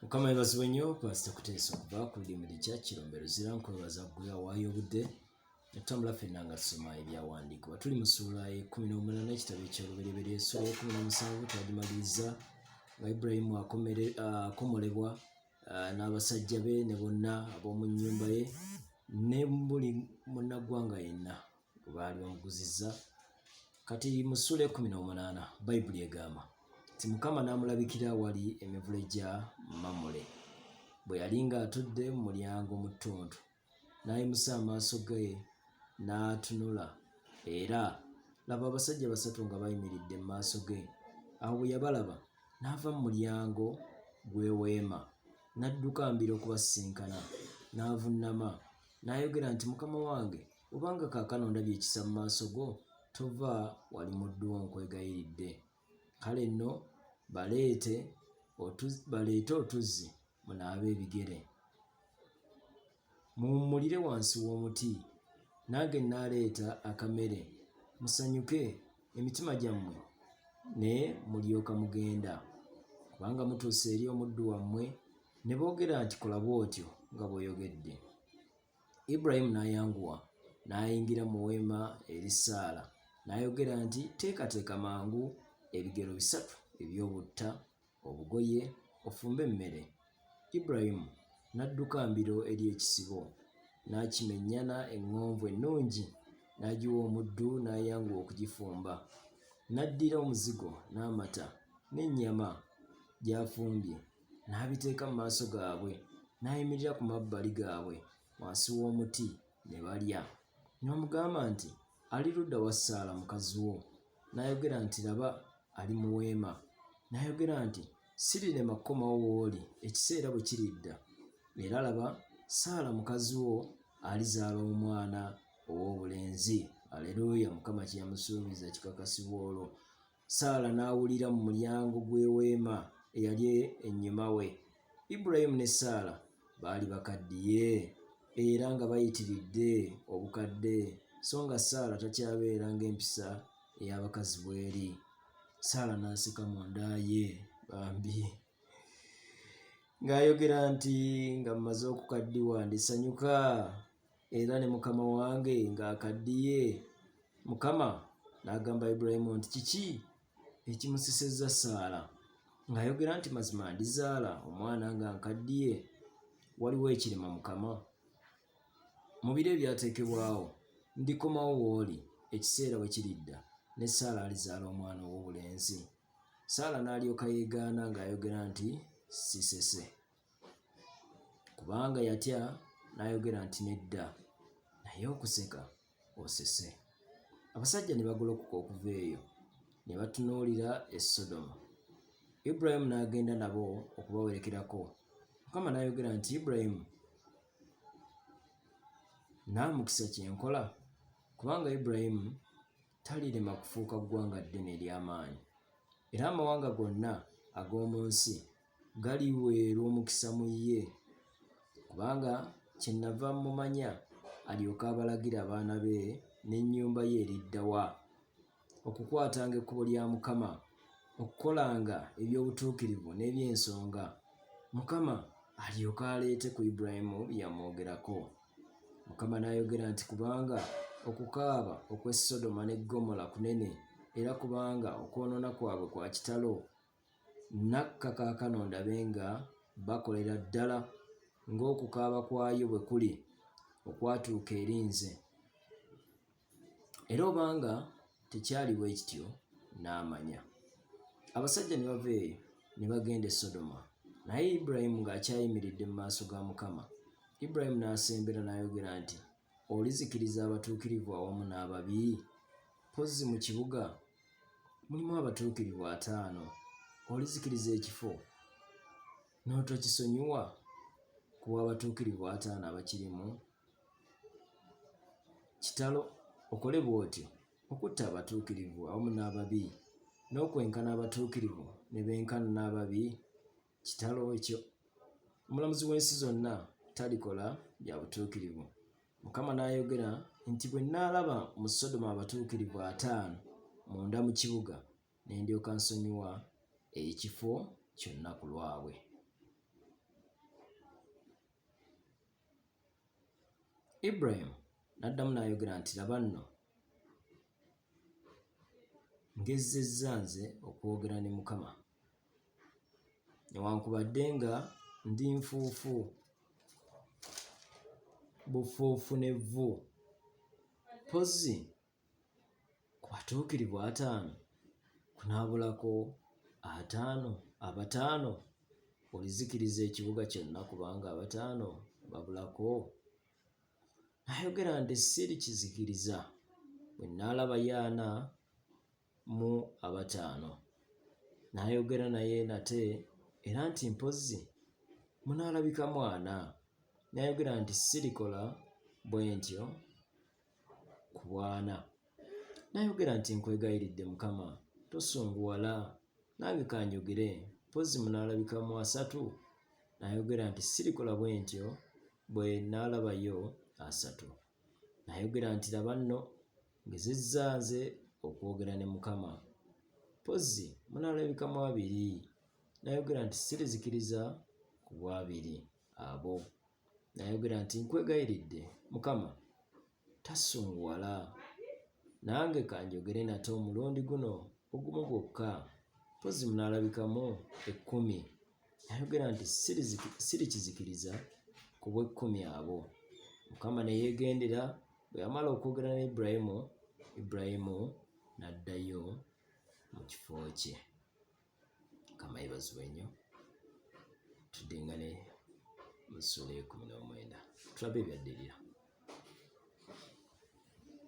mukama yebazibwe nnyo pasita kuteesa okuva ku limuli kya kirombe luzira nkwebaza gwe awaayo obudde netutambula fenna nga tusoma ebyawandiikibwa tuli mu suula ekumi n'omunana ekitabo ekyolubereberye esuula ekumi n'omusanvu twagimaliriza nga iburahimu akomolebwa n'abasajja be ne bonna ab'omu nnyumba ye ne buli munnaggwanga yenna gwe baali bamuguzizza kati musula ekumi n'omunaana bayibuli egamba nti mukama n'amulabikira awali emivule gya mamule bwe yali ng'atudde mu mulyango mu ttuntu n'ayimusa amaaso ge n'atunula era laba abasajja basatu nga bayimiridde mu maaso ge awo bwe yabalaba n'ava mu mulyango gw'eweema n'adduka mbira okubasisinkana n'avunnama n'ayogera nti mukama wange Kubanga kaakano ndabye ekisa mu maaso go, tova wali muddu wo nkwegayiridde. Kale nno baleete baleete otuzzi munaabe ebigere, muwummulire wansi w'omuti, nange nnaaleeta akamere, musanyuke emitima gyammwe ne mulyoka mugenda. Kubanga mutuuse eri omuddu wammwe ne boogera nti kola bw'otyo nga bw'oyogedde. Ibulayimu n'ayanguwa n'ayingira mu weema eri Saala, n'ayogera nti, Teekateeka mangu ebigero bisatu eby'obutta, obugoye, ofumbe emmere. Ibulayimu n'adduka mbiro eri ekisibo, n'akimennyana eŋŋonvu ennungi, n'agiwa omuddu, n'ayanguwa okugifumba. N'addira omuzigo n'amata n'ennyama gy'afumbye, n'abiteeka mu maaso gaabwe, n'ayimirira ku mabbali gaabwe wansi w'omuti, ne balya. N'omugamba nti, Ali ludda wa Saala mukazi wo? N'ayogera nti, Laba, ali mu weema. N'ayogera nti, Sirirema kukomawo w'oli ekiseera bwe kiridda, era laba, Saala mukazi wo alizaala omwana ow'obulenzi. Aleruuya! Mukama kye yamusuubiza kikakasibwa olwo. Saala n'awulira mu mulyango gw'eweema eyali ennyuma we. Ibulayimu ne Saala baali bakaddiye era nga bayitiridde obukadde, so nga Saala takyabeera ng'empisa ey'abakazi bw'eri. Saala n'aseka mu nda ye bambi ng'ayogera nti, Nga mmaze okukaddiwa ndisanyuka. era ne mukama wange ng'akaddiye mukama n'agamba ibulayimu nti kiki ekimusisizza saala ng'ayogera nti mazima ndizaala omwana nga nkaddiye waliwo ekirema mukama mu biro ebyateekebwawo ndikomawo wooli ekiseera bwe kiridda ne saala alizaala omwana ow'obulenzi saala n'alyoka yeegaana ng'ayogera nti sisese kubanga yatya n'ayogera nti nedda naye okuseka osese abasajja ne bagolokoka okuva eyo ne batunuulira e sodomu iburayimu n'agenda nabo okubawerekerako mukama n'ayogera nti iburayimu naamukisa kye nkola kubanga iburayimu talirema kufuuka ggwanga ddene ery'amaanyi era amawanga gonna ag'omu nsi galiweerwa omukisa mu ye, kubanga kyennava mmumanya, alyoke abalagire abaana be n'ennyumba ye eridda wa, okukwatanga ekkubo lya Mukama, okukolanga eby'obutuukirivu n'eby'ensonga, Mukama alyoke aleete ku Ibulayimu bye yamwogerako. Mukama n'ayogera nti, Kubanga okukaaba okw'e Sodoma ne Ggomola kunene, era kubanga okwonoona kwabwe kwa kitalo, Nakka kaakano ndabe nga bakolera ddala ng'okukaaba kwayo bwe kuli okwatuuka eri nze. Era obanga tekyali bwe kityo, n'amanya. Abasajja ne bava eyo ne bagenda e Sodoma, naye Ibulayimu ng'akyayimiridde mu maaso ga Mukama. Ibulayimu n'asembera n'ayogera nti, Olizikiriza abatuukirivu awamu n'ababi? Mpozzi mu kibuga mulimu abatuukirivu ataano, olizikiriza ekifo n'otokisonyiwa ku bw'abatuukirivu ataano abakirimu? Kitalo okole bw'otyo okutta abatuukirivu awamu n'ababi, n'okwenkana abatuukirivu ne benkana n'ababi? kitalo ekyo omulamuzi w'ensi zonna talikola bya butuukirivu mukama n'ayogera nti bwe nnaalaba mu sodoma abatuukirivu ataano munda mu kibuga ne ndyoka nsonyiwa ekifo kyonna ku lwabwe iburahimu n'addamu n'ayogera nti laba nno ngezzezza nze okwogera ne mukama newankubadde nga ndi nfuufu bufuufu n'evvu mpozzi ku batuukirivu ataano kunaabulako ataano abataano olizikiriza ekibuga kyonna kubanga abataano babulako nayogera nti sirikizikiriza bwe naalaba yaana mu abataano n'ayogera naye nate era nti mpozzi munaalabika mwana n'ayogera nti sirikola bwe ntyo ku bwana n'ayogera nti nkwegayiridde mukama tosunguwala nange kanjogere mpozzi munaalabika mu asatu n'ayogera nti sirikola bwe ntyo bwe naalabayo asatu Nayogera nti, Laba nno, ngezezza nze okwogera ne Mukama. Mpozzi munaalabikamu abiri. Nayogera nti, Sirizikiriza ku bw'abiri abo. Nayogera nti, Nkwegayiridde, Mukama, tasunguwala. Nange ka njogere nate omulundi guno ogumu gwokka. Mpozzi munaalabikamu ekkumi. Ayogera nti sirikizikiriza ku bw'ekkumi abo. Mukama ne yeegendera, bwe yamala okwogera ne Ibulayimu, Ibulayimu n'addayo mu kifo kye. Mukama yeebazibwe nnyo. Tudingane mu ssuula ey'ekkumi n'omwenda tulabe ebyaddirira.